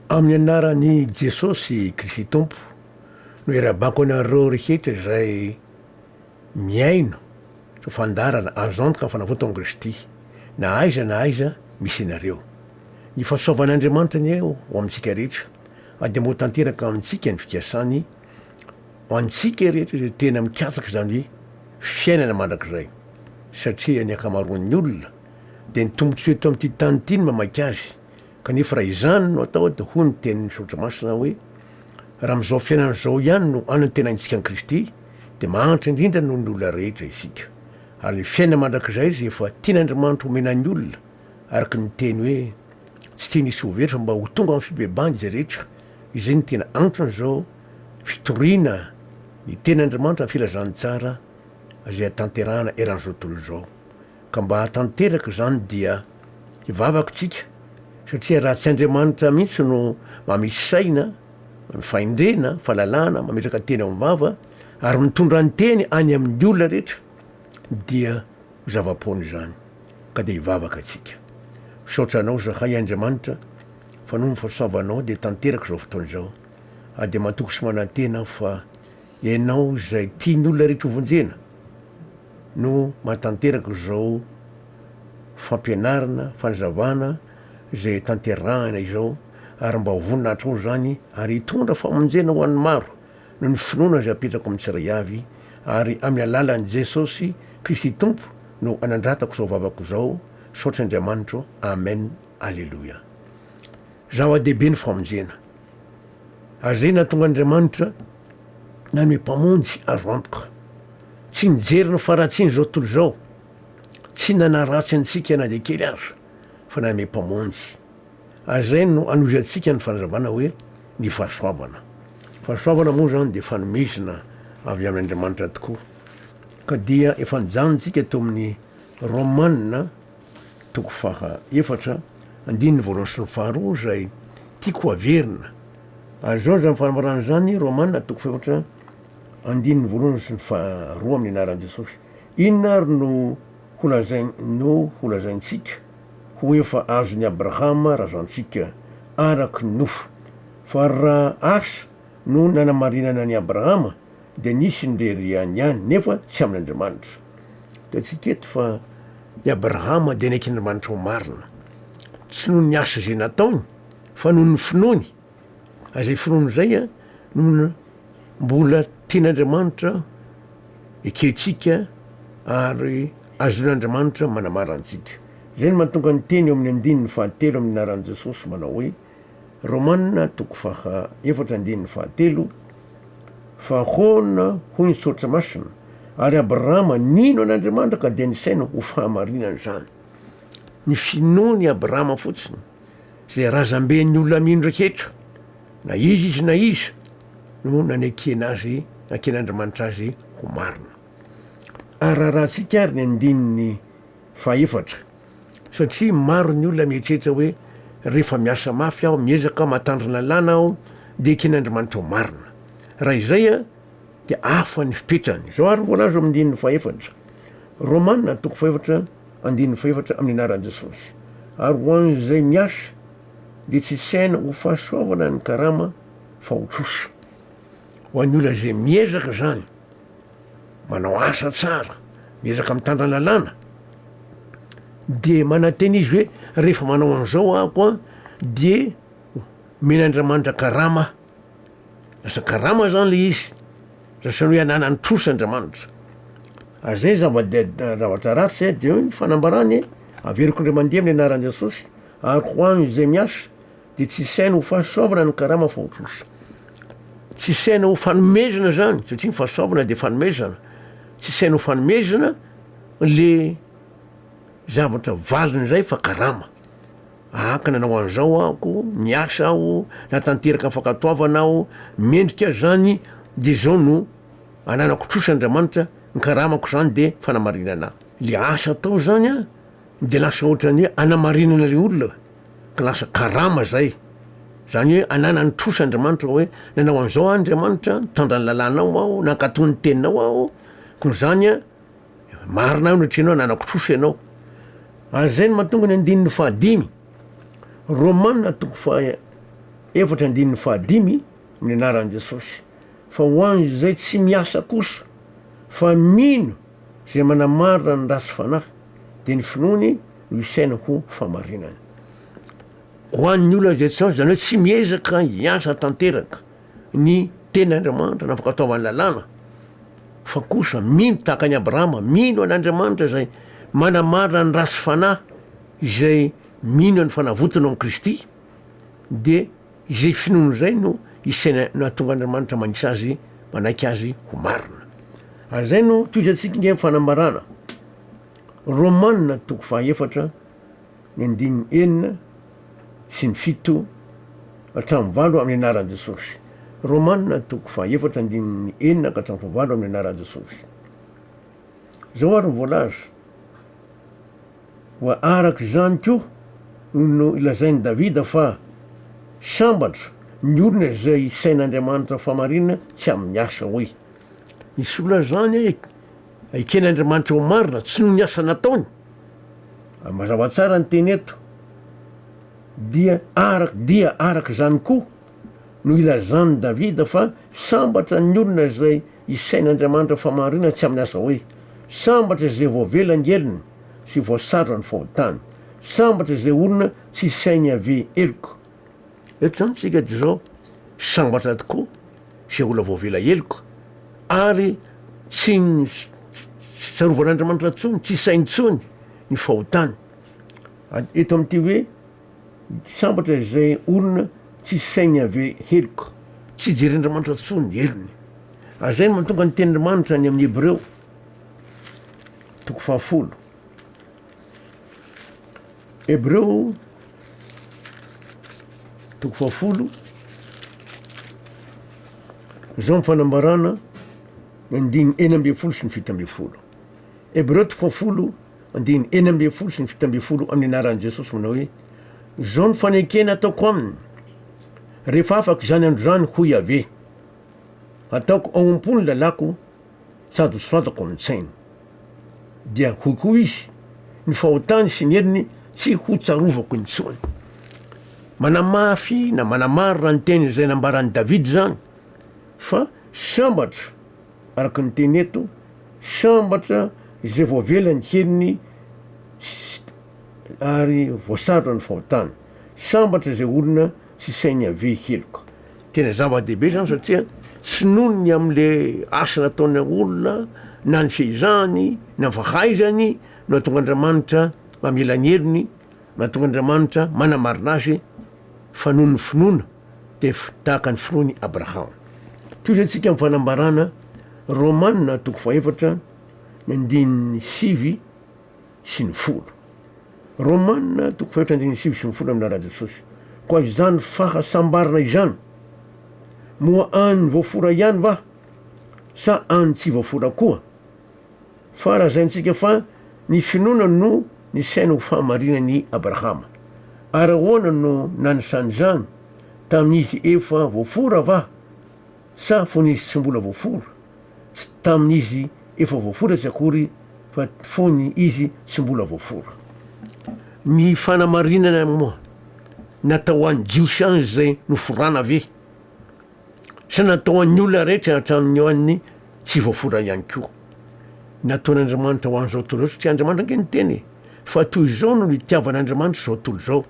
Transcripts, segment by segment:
Amin'ny anaran'i Jesosy Kristy Tompo no iarabako anareo rehetra izay mihaino izao fandaharana azo antoka ny fanavotako Kristy na aiza na aiza misy anareo. Ny fahasoavan'Andriamanitra anie ho amintsika rehetra ary dia mba ho tanteraka amintsika ny fikasany ho antsika rehetra izay tena mikatsaka izany fiainana mandrakizay satria ny ankamaroan'ny olona dia ny tombotsoa eto amin'ity tany ity no mamaika azy Kanefa raha izany no atao dia hoy ny tenin'ny Soratra Masina hoe, Raha amin'izao fiainana izao ihany no anantenaintsika an'i Kristy, dia mahantra indrindra noho ny olona rehetra isika. Ary ny fiainana mandrakizay izay efa tian'Andriamanitra omena ny olona, araka ny teny hoe, Tsy tiany hisy ho very fa mba ho tonga amin'ny fibebahana izay rehetra, izay no tena anton'izao fitoriana ny tenin'Andriamanitra amin'ny filazantsara izay hatanterahana eran'izao tontolo izao. ka mba hahatanteraka izany dia hivavaka isika satria raha tsy Andriamanitra mihitsy no mamitsy saina, fahendrena, fahalalana, mametraka teny ao amin'ny vava ary mitondra ny teny any amin'ny olona rehetra dia ho zava-poana izany ka dia hivavaka isika. Misaotra Anao zahay Andriamanitra fa noho ny fahasoavanao dia tanteraka izao fotoana izao ary dia matoky sy manantena aho fa Ianao izay tian'ny olona rehetra hovonjena. no mahatanteraka izao fampianarana, fanazavana izay tanterahina izao ary mba vonona hatrao izany ary hitondra famonjena ho an'ny maro noho ny finoana izay apetrako amin'ny tsiray avy ary amin'ny alalan'i Jesosy Kristy Tompo no anandratako izao vavako izao, misaotra Andriamanitro, Amen, Aleloia. Zava-dehibe ny famonjena. Ary izay nahatonga Andriamanitra nanome Mpamonjy azo antoka. Tsy nijery ny faharatsian'izao tontolo izao, tsy nanaratsy antsika na dia kely aza, fa nanome Mpamonjy. Ary izay no hanohizantsika ny fanazavana hoe ny fahasoavana. Fahasoavana moa izany dia fanomezana avy amin'Andriamanitra tokoa. Ka dia efa nijanontsika teo amin'ny Romana, toko faha efatra, andininy voalohany sy ny faharoa izay tiako ho averina. Ary izao izany fanambarana izany, Romana toko fahefatra, andininy voalohany sy ny faharoa amin'ny anaran'i Jesosy. Inona ary no holazain, no holazaintsika ho efa azon'i Abrahama razantsika araky ny nofo? Fa raha asa no nanamarinana an'i Abrahama dia nisy ny rery ihany ihany nefa tsy amin'Andriamanitra. Hitantsika eto fa i Abrahama dia niaikin'Andriamanitra ho marina, tsy noho ny asa izay nataony fa noho ny finoany, ary izay finoany izay no mbola tian'Andriamanitra ekentsika ary azon'Andriamanitra manamara antsika. Izay no mahatonga ny teny eo amin'ny andininy fahatelo amin'ny anaran'i Jesosy manao hoe. Romana toko faha efatra andininy faha telo, Fa hoana hoy ny soratra masina, ary Abrahama nino an' Andriamanitra ka dia nisaina ho fahamarinana izany. Ny finoan' i Abrahama fotsiny, izay razamben' ny olona mino rehetra, na iza izy na iza, no nanekena azy, naken' Andriamanitra azy ho marina. Ararahantsika ary ny andininy faha efatra. satria maro ny olona mieritreritra hoe rehefa miasa mafy aho, miezaka aho, mahatandrin lalàna aho dia ekeny Andrimanitra ho marina. Raha izay an dia hafa ny fipetrany. Izao ary ny voalaza ao amin'ny andininy fahefatra. Romana toko fahefatra andininy fahefatra amin'ny anaran'i Jesosy. Ary ho an'izay miasa dia tsy saina ho fahasoavana ny karama fa ho trosa. Ho an'ny olona izay miezaka izany. manao asa tsara, miezaka mitandra lalàna, dia manantena izy hoe rehefa manao an'izao ako an dia omena Andriamanitra karama, lasa karama zany le izy, lasa hoe ananany trosa Andriamanitra. Ary zay zava-deha- zavatra ratsy e, de eo ny fanambarany e, averiko ndray mandeha amin'ny anaran'i Jesosy ary ho an'izay miasa. dia tsy saina ho fahasoavana ny karama fa ho trosa. Tsy saina ho fanomezana zany, satria ny fahasoavana dia fanomezana. Tsy saina ho fanomezana le zavatra valiny izay fa karama. Ahaka nanao an'izao ahako, miasa aho, natanteraka ny fankatoavana aho, mendrika aho zany de zao no ananako trosa Andriamanitra, ny karamako zany de fanamarinana. Le asa atao zany a de lasa ohatran'ny hoe anamarinana le olona. ka lasa karama zay, zany hoe ananan'ny trosa Andriamanitra hoe nanao an'izao aho Andriamanitra, nitandra ny lalànao aho, nankatò ny teninao aho, koa izany marina aho natria ianao ananako trosa ianao. Ary izay no mahatonga ny andininy fahadimy, Romana toko faha efatra andininy fahadimy, amin'ny anaran'i Jesosy, fa ho an'izay tsy miasa kosa fa mino Izay manamarina ny ratsy fanahy dia ny finoany no isaina ho fahamarinana. Ho an'ny olona izay tsy azo, izany hoe tsy miezaka hiasa tanteraka ny teny Andriamanitra na fankatoavan'ny lalàna, fa kosa mino tahaka an'i Abrahama, mino an'Andriamanitra izay manamarina ny ratsy fanahy izay mino an'ny fanavotana ao amin'i Kristy dia Izay finoany izay no isaina nahatonga Andriamanitra manisa azy manaiky azy ho marina. Ary izay no tohizantsika indray amin'ny fanambarana. Romana toko fahaefatra ny andininy enina sy ny fito hatramin'ny valo amin'ny anaran'i Jesosy. Romana toko fahaefatra andininy enina ka hatramin'ny fahavalo amin'ny anaran'i Jesosy. Izao ary ny voalaza. Koa araka izany koa no nolazain'i Davida fa sambatra ny olona izay isain'Andriamanitra famarinana tsy amin'ny asa. Hoy ny sola izany eken'Andriamanitra ho marina tsy noho ny asa nataony. Mazava tsara ny teny eto. Dia araka dia araka izany koa no ilazan'i Davida fa sambatra ny olona izay Isain'Andriamanitra famarinana tsy amin'ny asa hoe, Sambatra izay voavela ny helony sy voasarotra ny fahotany. Sambatra izay olona tsy isain'i Yaveh heloka. Eto izany tsika dia izao, Sambatra tokoa izay olona voavela heloka ary tsy tsy tsarovan'Andriamanitra intsony, tsy isainy intsony ny fahotany. Eto amin'ity hoe Tsy sambatra izay olona tsisy sainy Yaveh heloka. Tsy jeren'Andriamanitra intsony ny helony. Ary izay no mahatonga ny tenin'Andriamanitra any amin'ny Hebreo toko fahafolo. Hebreo toko fahafolo izao ny fanambarana ny andiny enina ambin'ny folo sy ny fito ambin'ny folo. Hebreo toko fahafolo Andininy enina ambin'ny folo sy ny fito ambin'ny folo amin'ny anaran'i Jesosy manao hoe, Izao no fanekena ataoko aminy, rehefa afaka izany andro izany, hoy Yaveh, Hataoko ao am-po ny lalàko sady ho soratako amin'ny sainy. Dia hoy koa izy, Ny fahotany sy ny heriny tsy hotsarovako intsony. Manamafy na manamarina ny teny izay nambaran'i Davida izany fa sambatra araka ny teny eto, sambatra izay voavela ny henony ary voasarotra ny fahotany. Sambatra izay olona tsy sain'i Yaveh heloka. Tena zava-dehibe izany satria tsy noho ny amin'ilay asa nataon'ilay olona na ny fehezahany na ny fahaizany no hahatonga Andriamanitra mamela ny helony, mahatonga Andriamanitra manamarina azy fa noho ny finoana. tefy tahaka ny firoan'i Abraham. Tohizo antsika amin'ny fanambarana Romana toko fahaefatra ny andininy sivy sy ny folo. Romana toko fahaefatra andininy sivy sy ny folo aminà Rajesosy. Koa izany fahasambarana izany, moa any voafora ihany va sa any tsy voafora koa? Fa lazaintsika fa ny finoana no nisaina ho fahamarinany i Abrahama. Ary ahoana no nanisany izany? Tamin'izy efa voafora va? Sa fony izy tsy mbola voafora? Tsy tamin'izy efa voafora tsy akory fa fony izy tsy mbola voafora. Ny fanamarinana moa natao ho an'ny Jiosy ihany izay noforana ve? Sy natao ho an'ny olona rehetra hatramin'ny ho an'ny tsy voafora ihany koa. Nataon'Andriamanitra ho an'izao tontolo izao satria Andriamanitra ange niteny e. Fa toy izao no nitiavan'Andriamanitra izao tontolo izao,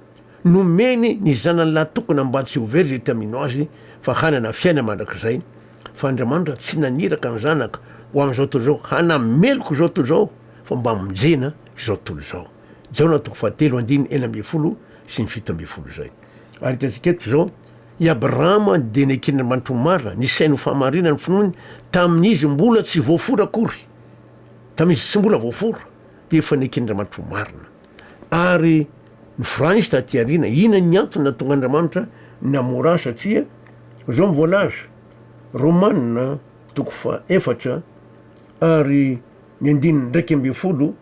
nomeny ny Zanany lahatokana mba tsy ho very izay te hamino Azy fa hanana fiainana mandrakizay. Fa Andriamanitra tsy naniraka ny Zanaka ho an'izao tontolo izao hanameloka izao tontolo izao fa mba hamonjena izao tontolo izao. Jaona toko fahatelo andininy enina ambin'ny folo sy ny fito ambin'ny folo izay. Ary hitantsika eto izao. I Abrahama dia neken'Andriamanitra ho marina, nisainy ho fahamariana ny finoany, tamin'izy mbola tsy voafora akory. Tamin'izy tsy mbola voafora, dia efa neken'Andriamanitra ho marina. Ary noforana izy taty aoriana. Inona ny antony nahatonga Andriamanitra namora azy? Satria izao no voalaza, Romana toko fahaefatra ary ny andininy iraika ambin'ny folo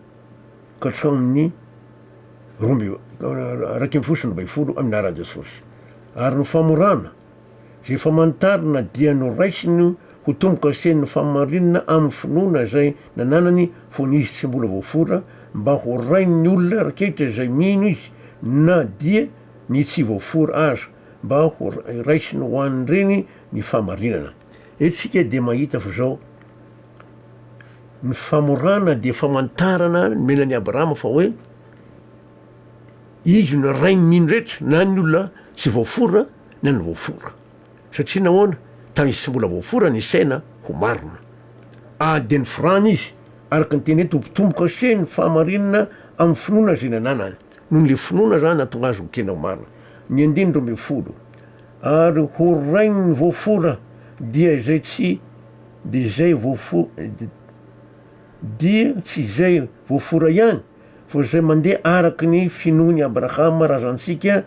ka hatramin'ny roa amby iraika ambin'ny folo sy roa ambin'ny folo amin'ny anaran'i Jesosy. Ary ny famorana izay famantarana dia noraisiny ho tombo-kasen'ny fahamarinana amin'ny finoana izay nananany fony izy tsy mbola voafora mba ho rain'ny olona raketra izay mino izy na dia ny tsy voafora aza mba ho raisiny ho an'ireny ny fahamarinana. Eto isika dia mahita fa izao. Ny famorana dia famantarana nomena an'i Abrahama fa hoe izy no rain'ny rehetra, na ny olona tsy voafora na ny voafora. Satria nahoana? Tamin'izy tsy mbola voafora ny saina ho marina. Adin'ny firàna izy, araka ny teny eto, ho mpitombo kase ny fahamarinana amin'ny finoana izay nananany. Noho ilay finoana izany nahatonga azy ho kena ho marina. Ny andininy roa ambin'ny folo, Ary horain'ny voafora dia izay tsy. Dia izay voafo-, dia tsy izay voafora ihany, fa izay mandeha araka ny finoan' i Abrahama razantsika,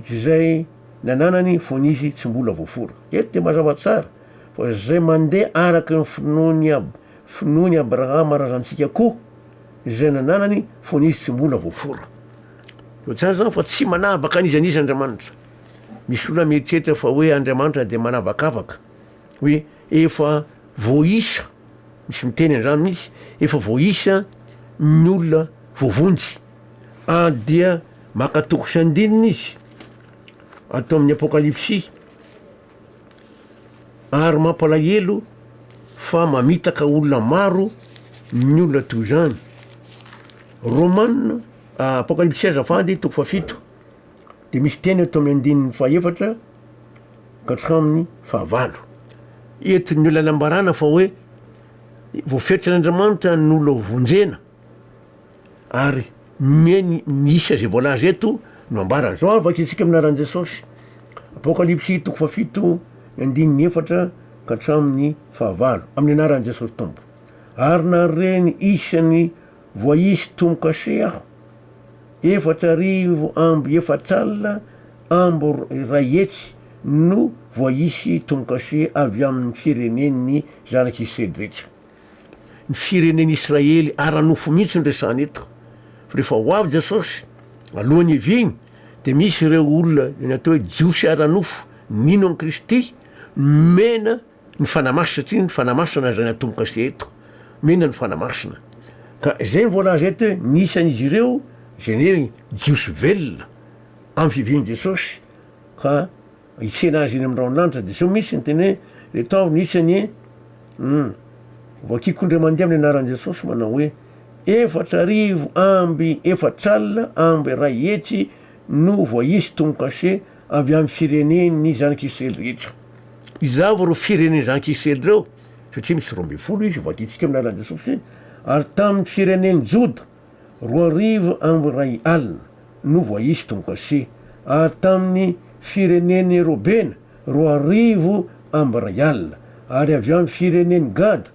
izay nananany fony izy tsy mbola voafora. Eto dia mazava tsara fa izay mandeha araka ny finoan' i Ab-, finoan' i Abrahama razantsika koa, izay nananany fony izy tsy mbola voafora. Toa tsara izany fa tsy manavaka an'iza an'iza Andriamanitra. Misy olona mieritreritra fa hoe Andriamanitra dia manavakavaka. hoe efa voaisa, misy miteny an'izany mihitsy, efa voaisa ny olona voavonjy, ary dia maka toko sy andininy izy ato amin'ny Apokalypsy, ary mampalahelo fa mamitaka olona maro ny olona toy izany. Romana, Apokalypsy azafady, toko fahafito. de misy teny eto amin'ny andininy fahefatra ka hatramin'ny fahavalo. Eto ny olona nambarana fa hoe voafetran'Andriamanitra ny olona ho vonjena ary mieny ny isa izay voalaza eto no ambarany. Zao ary vakitsika amin'ny anaran'i Jesosy, Apokalypsy toko fahafito ny andininy efatra ka hatramin'ny fahavalo, amin'ny anaran'i Jesosy Tompo. Ary nare ny isan'ny Voaisy tomokase aho. Efatra arivo amby efatra alina amby iray hetsy no voaisy tomokase avy amin'ny firenen'ny zanak'i Sedretra. Ny firenen'i Israely ara-nofo mihitsy no resahana eto. Fa rehefa ho avy Jesosy, alohan'ny hiviany, dia misy ireo olona, ny atao hoe Jiosy ara-nofo, nino an'i Kristy, nomena Ny Fanahy Masina satria ny Fanahy Masina izay natomboka sy eto. Mena ny Fanahy Masina. Ka izay ny voalaza eto hoe ny isan'izy ireo izay ny hoe Jiosy velona amin'ny fivian'i Jesosy ka hitsena azy eny amin'ny rahon'ny lanitra dia zao misy ny teny hoe eto aho ny isany um vakiko indray mandeha amin'ny anaran'i Jesosy manao hoe efatra arivo amby efatra alina amby iray hetsy no voaisy tomokase Avy amin'ny firenen'ny zanak'Israely rehetra. Izava ireo firenen'ny zanak'Israely ireo, satria misy roa ambin'ny folo izy, vadintsika amin'ny alalan'i Jesosy, ary tamin'ny firenen'i Joda, roa arivo amby iray alina no voaisy tomokase, ary tamin'ny firenen'i Robena, roa arivo amby iray alina, ary avy amin'ny firenen'i Gada,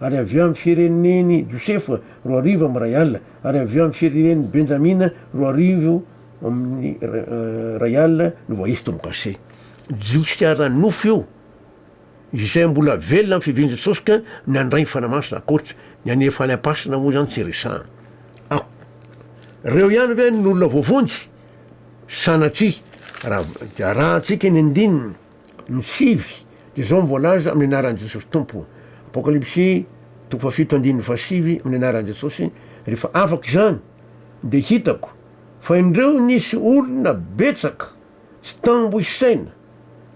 ary avy eo amin'ny firenen'i Josefa, roa arivo amin'ny iray alina, ary avy eo amin'ny firenen'i Benjamina, roa arivo amin'ny iray alina, no voaisy tombo-kase. Jiosy ara-nofo io, izay mbola velona amin'ny fivian'i Jesosy ka nandray ny Fanahy Masina ankoatra ny hanefa any am-pasana moa izany tsy resahina. Ak. Ireo ihany ve no olona voavonjy? Sanatria! Raha arahantsika ny andininy. Ny sivy dia izao no voalaza amin'ny anaran'i Jesosy Tompo, Apokalypsy toko fahafito andininy fahasivy, amin'ny anaran'i Jesosy, rehefa afaka izany, dia hitako fa indreo nisy olona betsaka sy tambo isaina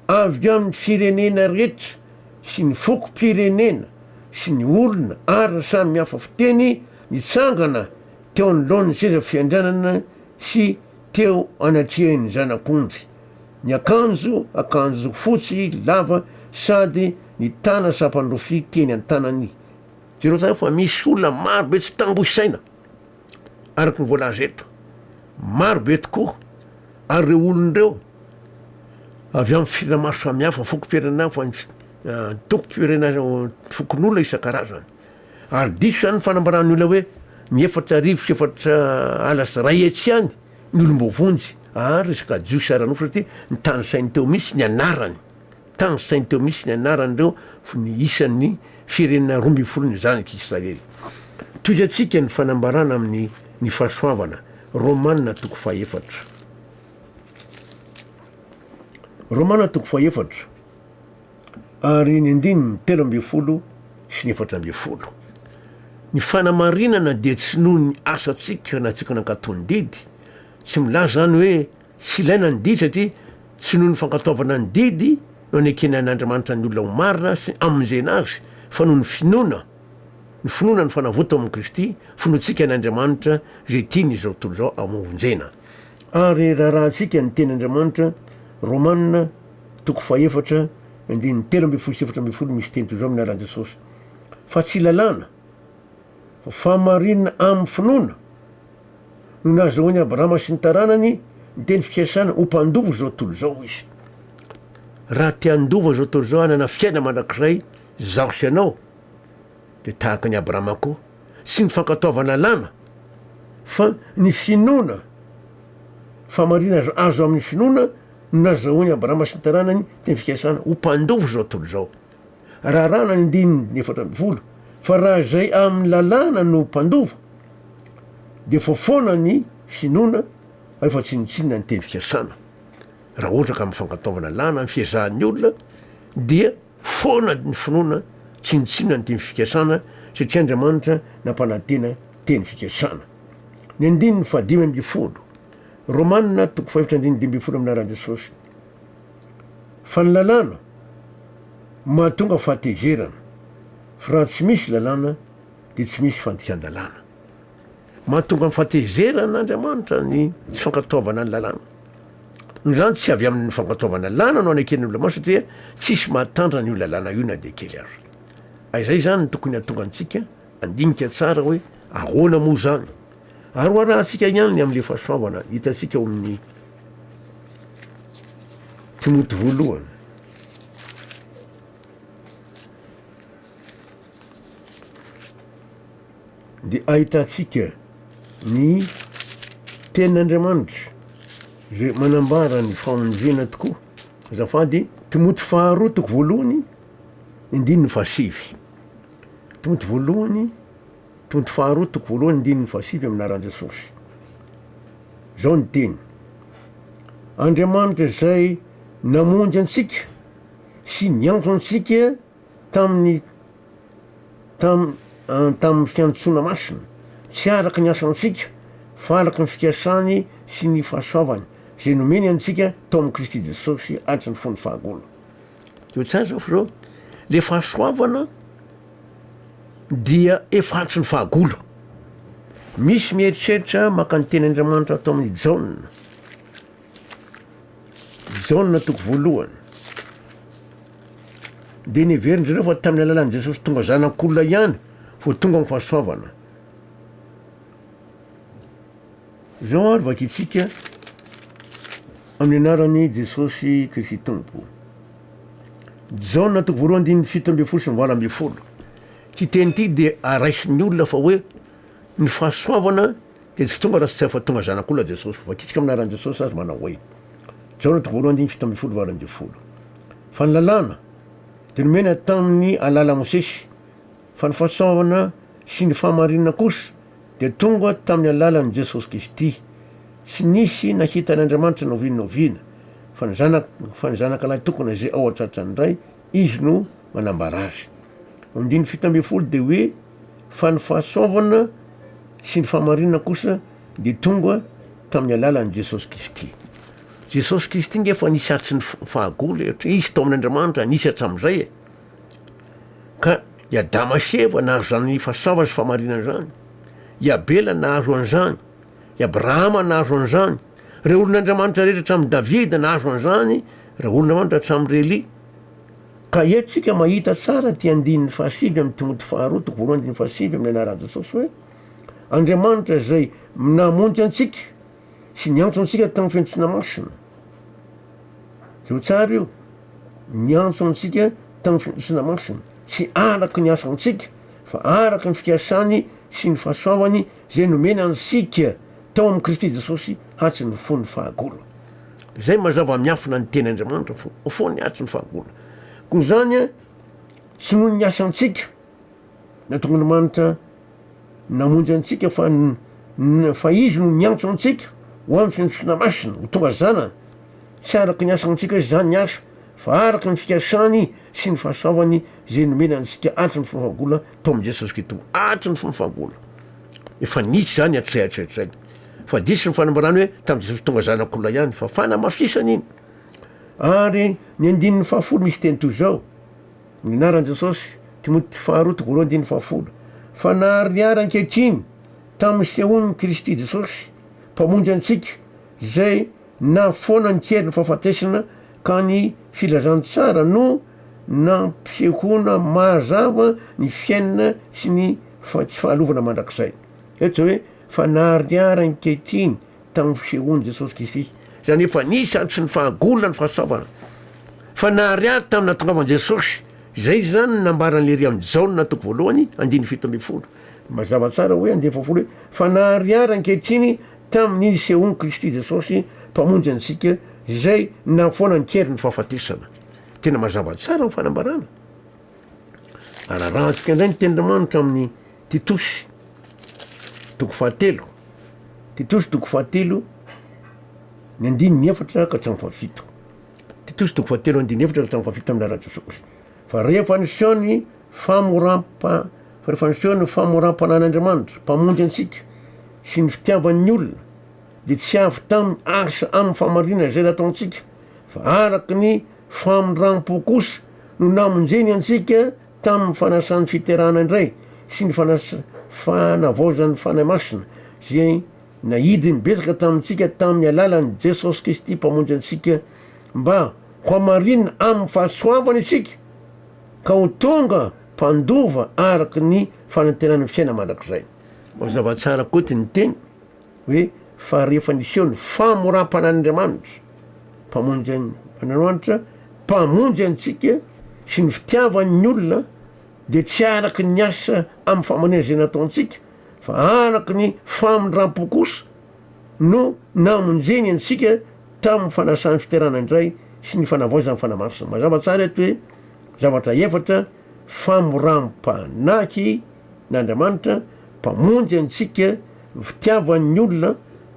avy amin'ny firenena rehetra sy ny fokom-pirenena sy ny olona ara samy hafa fiteny nitsangana teo anoloan'ny seza fiandrianana sy teo anatrehan'ny Zanak'ondry Ny akanjo, akanjo fotsy lava sady nitana sampan'ny rofia teny an-tanany. Jereo tsara fa misy olona maro be tsy tambo isaina, araka ny voalaza eto. Maro be tokoa, ary ireo olona ireo avy amin'ny firenena maro samihafa, fokom-pirenena hafa, antoko-pirenena, fokonolona isan-karazany. Ary diso izany ny fanambaran'ny olona hoe ny efatra arivo sy efatra ala sy iray hetsy ihany. Ny olom-boavonjy ary resaka jiosy ara-nofo satria nitanisainy teo mihitsy ny anarany. Nitanisainy teo mihitsy ny anarany ireo fony ny isan'ny firenena roa ambin'ny folon'ny zanak'i Israely. Tohizantsika ny fanambarana amin'ny Ny Fahasoavana, Romana toko fahefatra. Romana toko fahefatra. Ary ny andininy telo ambin'ny folo sy ny efatra ambin'ny folo, Ny fanamarinana dia tsy noho ny asantsika na tsy nankatò ny didy. Tsy milaza izany hoe tsy ilaina ny didy satria tsy noho ny fankatoavana ny didy no anekena an'Andriamanitra ny olona ho marina sy hamonjena azy fa noho ny finoana, ny finoana ny fanavotana ao amin'i Kristy, finoantsika an'Andriamanitra izay tiany izao tontolo izao hamonjena. Ary raharahantsika ny Teny Andriamanitra, Romana, toko fahefatra, andininy telo ambin'ny folo sy efatra ambin'ny folo misy teny toy izao amin'ny anaran'i Jesosy, Fa tsy lalàna, fa fahamarinana amin'ny finoana no nahazahoan'i Abrahama sy ny taranany ny teny fikasana ho mpandova izao tontolo izao izy. Raha te handova izao tontolo izao hanana fiainana mandrakizay izaho sy ianao, Dia tahaka an'i Abrahama koa, tsy ny fankatoavana lama, fa ny finoana, fahamarinana azo amin'ny finoana no nazahoan'i Abrahama sy ny taranany teny fikasana ho mpandova izao tontolo izao. Raràna ny andininy efatra ambin'ny folo fa raha izay amin'ny lalàna no mpandova, dia vao foana ny finoana rehefa tsinontsinona ny teny fikasana. Raha ohatra ka amin'ny fankatoavana lana ny fiezahan'ny olona, dia. Foana ny finoana tsinontsinona ny teny fikasana satria Andriamanitra nampanantena teny fikasana. Ny andininy fahadimy ambin'ny folo, Romana toko fahefatra andininy dimy ambin'ny folo amin'ny anaran'i Jesosy. Fa ny lalàna mahatonga fahatezerana, fa raha tsy misy lalàna dia tsy misy fandikan-dalàna. Mahatonga ny fahatezerana Andriamanitra ny tsy fankatoavana ny lalàna. Noho izany, tsy avy amin'ny fankatoavana ny lalàna no aneken'ny olona maro satria tsisy mahatantana io lalàna io na dia kely aza. Izay izany no tokony hahatonga antsika handinika tsara hoe ahoana moa izany. Aroarahantsika ihany ny amin'ilay fahasoavana hitantsika ao amin'ny Timoty voalohany. dia ahitantsika ny tenin'Andriamanitra izay manambara ny famonjena tokoa. Azafady, Timoty faharoa toko voalohany, indininy fahasivy. Timoty voalohany, Timoty faharoa toko voalohany, indininy fahasivy amin'aran'i Jesosy. Zao ny teny. Andriamanitra izay namonjy antsika sy niantso antsika tamin'ny tam, tamin'ny fiantsoana masina, tsy araka ny asantsika, fa araka ny fikasany sy ny fahasoavany, izay nomeny antsika tao amin'i Kristy Jesosy araka ny fon'ny fahagola. Teo tsara izao fa zao, le fahasoavana dia efa atsy ny fahagola. Misy mieritreritra maka ny teny Andriamanitra atao amin'ny Jaona, Jaona toko voalohany, Dia neverin-dry zareo fa tamin'ny alalan'i Jesosy tonga Zanak'olona ihany vao tonga ny fahasoavana. Izao ary vakintsika amin'ny anaran'i Jesosy Kristy Tompo. Jaona toko voalohany diny fito ambin'ny folo sy ny valo ambin'ny folo. Ity teny ity dia araisin'ny olona fa hoe ny fahasoavana Dia tsy tonga raha tsy efa tonga Zanak'olona Jesosy. Voakitika amin'ny anaran'i Jesosy azy manao hoe, Jaona toko voalohany andininy fito ambin'ny folo valo ambin'ny folo. Fa ny Lalàna dia nomena tamin'ny alalan'i Mosesy, fa ny fahasoavana sy ny fahamarinana kosa dia tonga tamin'ny alalan'i Jesosy Kristy. Tsy nisy nahita an'Andriamanitra na oviana na oviana, fa ny Zanak, fa ny Zanakalahy tokana izay ao an-tratran'ny Ray, Izy no manambara azy. Andininy fito ambin'ny folo dia hoe. fa ny fahasoavana sy ny fahamarinana kosa dia tonga tamin'ny alalan'i Jesosy Kristy. Jesosy Kristy nge efa nisy hatry ny fahagola e, satria izy tao amin'Andriamanitra nisy hatramin'izay e. Ka i Adama sy Eva nahazo izany fahasoavana sy fahamarinana izany. I Abela nahazo an'izany. I Abrahama nahazo an'izany. Ireo olon'Andriamanitra rehetra hatramin'i Davida nahazo an'izany, ireo olon'Andriamanitra hatramin'i Relia. Ka eto tsika mahita tsara ity andininy fahasivy amin'ny Timoty faharoa toko voalohany andininy fahasivy amin'ny anaran'i Jesosy hoe, Andriamanitra izay namonjy antsika sy niantso antsika tamin'ny fiantsoana masina. Zio tsara io, niantso antsika tamin'ny fiantsoana masina, tsy araka ny asantsika fa araka ny fikasany sy ny fahasoavany izay nomena antsika tao amin'i Kristy Jesosy hantsy ny fon'ny fahagola. Izay mazava miafina ny teny Andriamanitra fo, ho foany hantsy ny fahagola. Koa izany tsy noho ny asantsika nahatonga ny manitra namonjy antsika fa fa izy no niantso antsika ho amin'ny fiantsoana masina ho tonga zanany. Tsy araka ny asantsika izany ny asa fa araka ny fikasany sy ny fahasoavany izay nomena antsika hantsy ny fahagola. Tom Jesus Kito ato ny famafam-bolo. Efa nitsy zany hatrizay hatrizay hatrizay. Fa diso ny fanambarany hoe tam Jesus tonga zanak'olona ihany fa fanamafisana iny. Ary ny andininy fahafolo misy teny toy izao, ny anaran'i Jesosy, Timoty faharoa toko roa andininy fahafolo, fa naharihary ankehitriny tam sehoan'i Kristy Jesosy, Mpamonjy antsika, izay Nahafoana ny kerin'ny fahafatesana ka ny filazantsara no nampisehoana mazava ny fiainana sy ny tsy fahalovana mandrakizay. Eto izao hoe, fa naharihary ankehitriny tamin'ny fisehoan'i Jesosy Kristy, izany hoe fa nisy ary tsy ny fahagolona ny fahasoavana, fa naharihary tamin'ny nahatongavan'i Jesosy. Izay izany no nambaran'ilay iry amin'i Jaona toko voalohany andininy fito ambin'ny folo. Mazava tsara hoe andininy fahafolo hoe, fa naharihary ankehitriny tamin'ny nisehoan'i Kristy Jesosy, Mpamonjy antsika, izay nahafoana ny keriny ny fahafatesana. Tena mazava tsara ny fanambarana. Ararahantsika indray ny tenin'Andriamanitra amin'ny Titosy, toko fahatelo. Titosy toko fahatelo, ny andininy efatra ka hatramin'ny fahafito. Titosy toko fahatelo andininy efatra ka hatramin'ny fahafito amin'ny lalan'i Jesosy. Fa rehefa niseho ny Famorampa, Farifandrosoana ny famoram-panan'Andriamanitra, Mpamonjy antsika, sy ny fitiavany ny olona, dia tsy avy tamin'ny asa amin'ny fahamarinana izay nataontsika, fa araka ny famindram-po kosa no namonjeny antsika tamin'ny fanasan'ny fiterahana indray sy ny fanavaozan'ny Fanahy Masina, izay naidiny betsaka tamintsika tamin'ny alalan'i Jesosy Kristy Mpamonjy antsika, mba hohamarinina amin'ny fahasoavany isika. ka ho tonga mpandova araka ny fanantenan'ny fiainana mandrakizay. Mazava tsara koa ity ny teny hoe fa rehefa niseho ny famoram-panan'Andriamanitra, Mpamonjy an, Andriamanitra Mpamonjy antsika sy ny fitiavany ny olona dia tsy araka ny asa amin'ny famonjena izay nataontsika fa araka ny famindram-po kosa, no namonjeny antsika tamin'ny fanasan'ny fiterana indray sy ny fanavaozan'ny fanahy masina. Mazava tsara eto hoe zavatra efatra, famoram-panahy n'Andriamanitra, Mpamonjy antsika, ny fitiavan'ny olona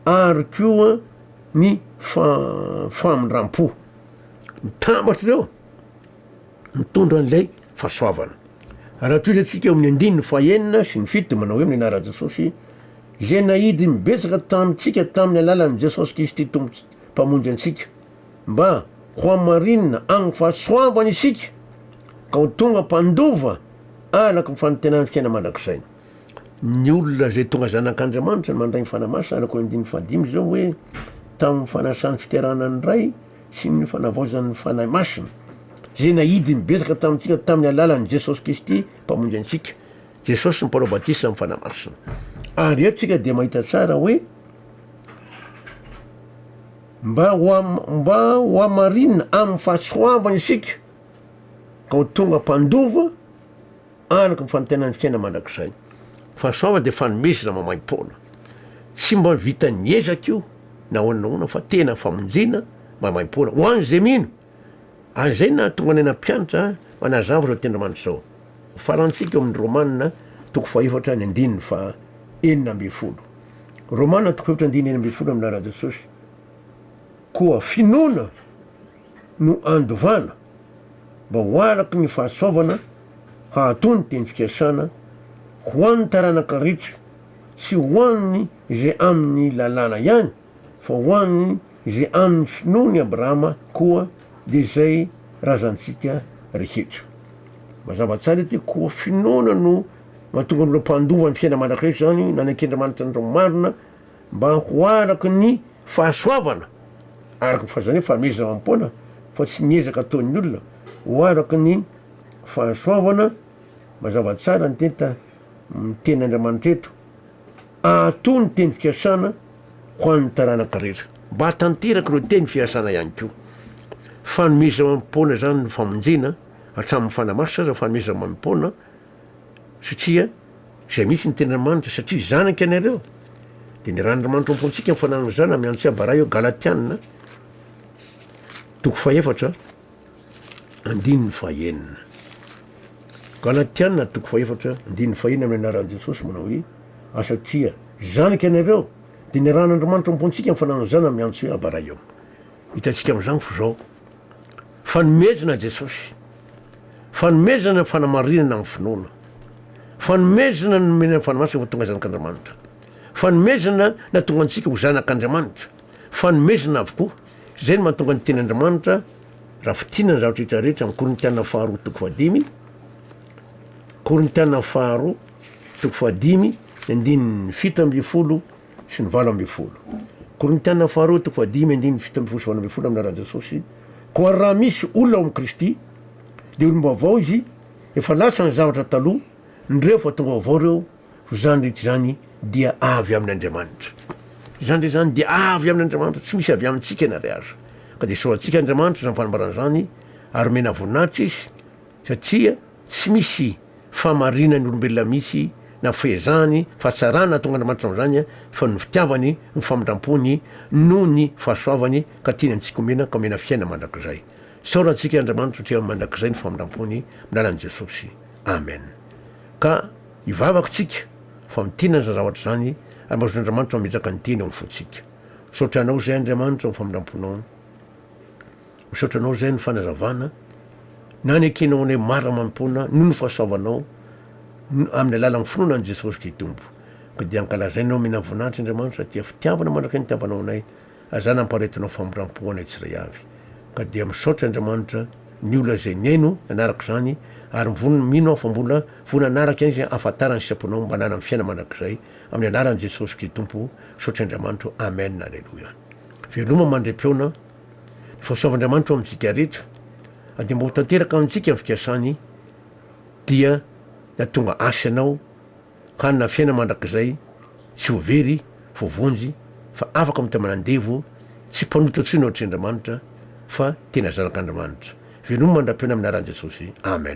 ary koa ny famindram-po. Mitambatra ireo. mitondra an'ilay fahasoavana. Raha toy izay tsika eo amin'ny andininy fahenina sy ny fito dia manao hoe amin'ny anaran'i Jesosy izay nahidy ny betsaka tamintsika tamin'ny alalan'i Jesosy Kristy Tompo Mpamonjy antsika mba ho hamarinina amin'ny fahasoavany isika ka ho tonga mpandova araka ny fanantenan'ny fiainana mandrakizay. Ny olona izay tonga zanak'Andriamanitra no mandray ny fanahy masina araka ny andininy fahadimy izao hoe tamin'ny fanasan'ny fiterahana ny Ray sy ny fanavaozan' ny Fanahy Masina, izay nahidy ny betsaka tamintsika tamin'ny alalan' i Jesosy Kristy Mpamonjy antsika. Jesosy no mpanao batisa amin'ny Fanahy Masina. Ary eto tsika dia mahita tsara hoe mba mba hohamarinina amin'ny fahatsoavana isika ka ho tonga mpandova, Araka ny fanantenan'ny fiainana mandrakizay. Fahasoavana dia fanomezana maimaim-poana. Tsy mba vitan'ny ezaka io na ahoana na ahoana fa tena famonjena maimaim-poana ho an'izay mino. Ary izay no nahatonga anay nampianatra manazava izao teny Andriamanitra izao. Farantsika ao amin'ny Romana toko fahefatra ny andininy faha enina ambin'ny folo. Romana toko fahefatra andininy enina ambin'ny folo amin'ny lalan'i Jesosy. Koa finoana. no andovana mba ho araka ny fahasoavana hahatoa ny teny fikasana ho an'ny taranaka rehetra, tsy ho an'ny izay amin'ny lalàna ihany fa ho an'ny izay amin'ny finoan'i Abrahama koa dia izay razantsika rehetra. Mazava tsara ity koa finoana no mahatonga ny olona mpandova ny fiainana mandrakizay izany, nanaiky Andriamanitra ny marina, mba ho araka ny fahasoavana, araka ny fahazarana hoe fanomezana amam-poana fa tsy ny ezaka ataon'ny olona, ho araka ny fahasoavana, mazava tsara ny teny ta, ny teny Andriamanitra eto, ato ny teny fikasana ho an'ny taranaka rehetra. Mba hahatanteraka ireo teny fikasana ihany koa. Fanomezana amam-poana izany no famonjena, hatramin'ny fanahy masina aza fanomezana amam-poana, satria izay mihitsy ny tenin'Andriamanitra, satria zanaka ianareo, dia ny ran'Andriamanitra ao am-pontsika ny fananan'izany amin'ny antso hiabara eo, Galatiana toko fahefatra andininy fahenina. Galatiana toko fahefatra andininy fahenina amin'ny anaran'i Jesosy manao hoe, a satria zanaka ianareo, dia ny ran'Andriamanitra ao am-pontsika ny fananan'izany amin'ny antso hoe abara eo. Hitantsika amin'izany f'izao Fanomezana Jesosy. Fanomezana ny fanamarinana amin'ny finoana. Fanomezana ny nomena ny fanamasina ho tonga zanak'Andriamanitra. Fanomezana natonga antsika ho zanak'Andriamanitra. Fanomezana avokoa. Izay no mahatonga ny tenin'Andriamanitra raha fitina ny zavatra rehetra rehetra amin'ny Korintiana faharoa toko fahadimy Korintiana faharoa toko fahadimy ny andininy fito ambin'ny folo sy ny valo ambin'ny folo. Korintiana faharoa toko fahadimy andininy fito ambin'ny folo sy valo ambin'ny folo Amin'ny alalan'i Jesosy koa ary raha misy olona ao amin'i Kristy dia olom-baovao izy, efa lasa ny zavatra taloha, nireo fa tonga vaovao ireo, koa izany rehetra izany dia avy amin'Andriamanitra. Izany rehetra izany dia avy amin'Andriamanitra, tsy misy avy amintsika na iray aza. Ka dia soratsika Andriamanitra izany fanambarana izany ary omena voninahitra izy satria Tsy misy fahamarinany olombelona mihitsy na fehezahany fa tsy raha nahatonga Andriamanitra an'izany fa ny fitiavany, ny famindrampony noho ny fahasoavany ka tiany antsika omena ka omena fiainana mandrakizay. Isaoran tsika Andriamanitra satria mandrakizay ny famindrampony amin'ny alalan'i Jesosy. Amen. Ka hivavaka tsika fa mitinana izany zavatra izany ary mba azon'Andriamanitra mametraka ny teny ao amin'ny fontsika. Misaotra anao izay Andriamanitra amin'ny famindramponao. Misaotra anao zay ny fanazavana na ny ekenao anay maro amam-poana noho ny fahasoavanao amin'ny alalan'ny finoana an'i Jesosy Kitompo. Ka dia ankalazainay ho mena voninahitra Andriamanitra satria fitiavana mandraka ny hitiavanao anay ary izany hampaharetinao famindram-po ho anay tsirairay avy. Ka dia misaotra Andriamanitra ny olona izay nihaino nanaraka izany ary mivonona mino aho fa mbola vonona hanaraka ihany izay ahafantarany ny sitraponao mba hananany fiainana mandrakizay amin'ny anaran'i Jesosy Kitompo. Misaotra Andriamanitra. Amen. Aleloia. Veloma mandre-peona. Fa misaova Andriamanitra ho amintsika rehetra, ary dia mba ho tanteraka amintsika ny fikasany, dia ny hahatonga Azy sy anao hanana fiainana mandrakizay tsy ho very, ho vonjy, fa afaka mitamana andevo, tsy mpanota intsony ohatry Andriamanitra, fa tena zanak'Andriamanitra. Veloma mandra-pihaona amin'ny anaran'i Jesosy. Amen.